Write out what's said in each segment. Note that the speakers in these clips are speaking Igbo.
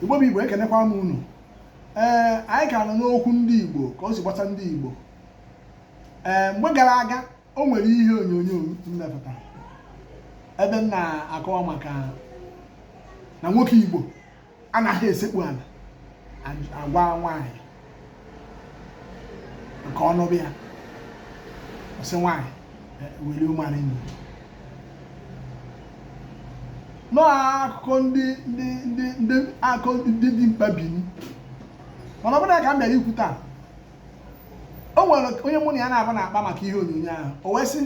igbo bụ igbo ekenekwa m unu ee anyị ka nọ n'okwu ndị igbo ka o si gbasa ndị igbo ee mgbe gara aga o nwere ihe onyonyo m mepụta ebe m na-akọwa maka na nwoke igbo anaghị esekpu ala agwa nwaanyị ka ọ nụba ya ọ sị nwaanyị will you marry me n'akụkọ ndị ndị ndị ndị akụkọ ndị dị mkpa bini mana ọ bụrọ nya ka m bịara ikwu taa o nwere onye mụ na ya na-aba na-akpa maka ihe onyonyo ahụ o wee sị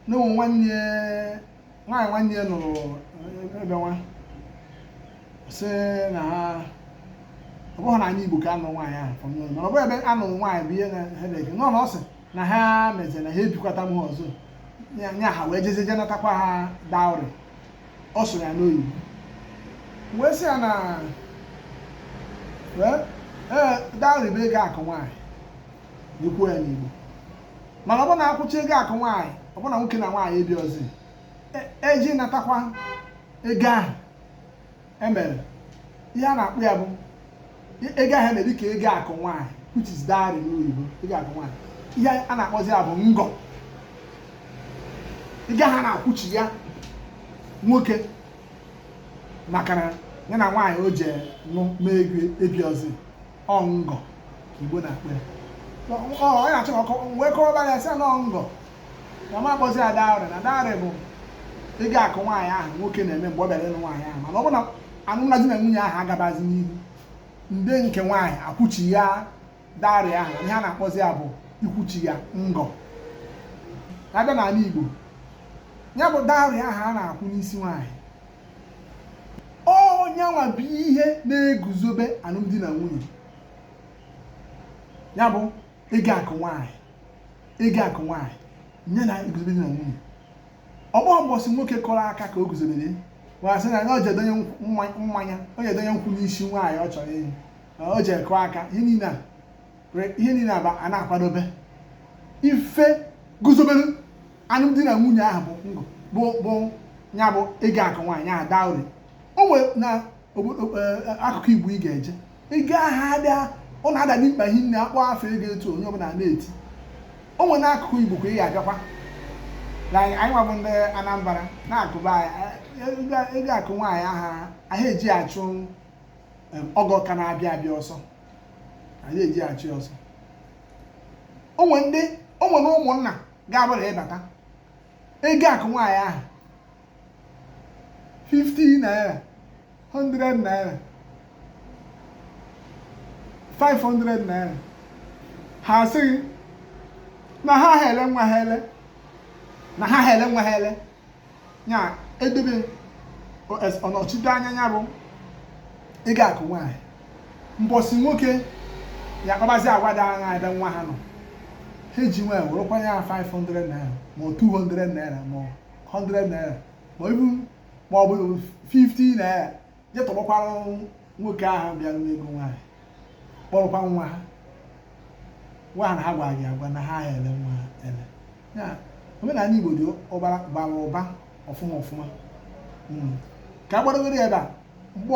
na o nwere nwaanyị nwanne ya nụrụ ebe nwa sị na ha ọ bụghị n'anị Igbo ka a nụ nwaanyị ahụ from nowhere mana ọ bụghị ebe a nụ nwaanyị bụ ihe na headache nọ na ọ sị na ha mezere na ha ebikọtaghị ọzọ ya ya ha wee jezie je natakwa ha dowry ọ sụrụ ya n'oyibo wee sị ya na wee ee dowry bụ ego akụ nwaanyị e kwuo ya n'Igbo mana ọ bụ na a kwụchaa ego akụ nwaanyị ọ bụ na nwoke na nwaanyị ebihọzi e jee natakwa ego ahụ e mere ihe a na-akpọ ya bụ ego ahụ e mere dịka ego akụ nwaanyị which is dowry n'oyibo ego akụ nwaanyị ihe a na-akpọzi ya bụ ngọ ego ahụ a na-akwụchi ya nwoke maka na ya na nwaanyị o ji nụ mee ego ebihọzi ọ ngọ igbo na-akpọ ya ọ na-achọ ka wee kọrọba ya sị na ọ ngọ na a ma akpọzi ya dowry na dowry bụ ego akụ nwaanyị ahụ nwoke na-eme mgbe ọ bịara ịlụ nwaanyị ahụ mana ọ bụ na alụmdi na nwunye ahụ agabazi n'ihu ndị nke nwaanyị akwụchi ya dowry ahụ ihe a na-akpọzi ya bụ ịkwụchi ya ngọ a bịa n'ala Igbo ya bụ dowry ahụ a na-akwụ n'isi nwaanyị ọ nya nwa bụ ihe na-eguzobe alụmdi na nwunye ya bụ ego akụ nwaanyị ego akụ nwaanyị nya na-eguzobe di na nwunye ọ bụhọ mbọsị nwoke kụrụ aka ka o guzobere wa sị na o jee donye mmanya o jee donye nkwụ n'isi nwaanyị ọ chọrọ ịnụ o jee kụọ aka ihe niile a were ihe niile a bụ a na-akwadobe ife guzobere alụmdi na nwunye ahụ bụ bụ bụ ya bụ ego akụ nwaanyị ahụ dowry o nwere na e, akụkụ igbo ị ga-eje ego ahụ adaa ọ na-ada dị mkpa hinne a kpọọ afa ego etu onye ọbụla na-eti o nwere n'akụkụ igbo ka ị ga-abịakwa anyị nwa bụ ndị anambra na nke be anyị ego akụ nwaanyị ahụ aha eji achụ ọgọ ka na-abịa abịa ọsọ anyị eji achụ ya ọsọ o nwere ndị o nwere na ụmụnna ga-abụrụ ịbata ego akụ nwaanyị ahụ 50 naira 100 naira 500 naira ha asị gị na ha aha ele nwa ha ele na ha aha ele nwa ha ele ya edebe ọnọchite anya ya bụ ego akụ nwaanyị mbọsị nwoke ya akpabazi agwa dị anya ebe nwa ha nọ ha eji nwayọ werekwa ya 500 naira ma 200 naira ma 100 naira ma ọ bụ 50 naira je tọgbọkwara nwoke ahụ bịara n'ego nwaanyị kpọrọkwa nwa ha nwa ha na ha gwara gị agwa na ha aha ele nwa ha ele ya omenala igbo dị bara ụba ọfụma ọfụma hmm. ka a gbadogoro ya ebe a mgbe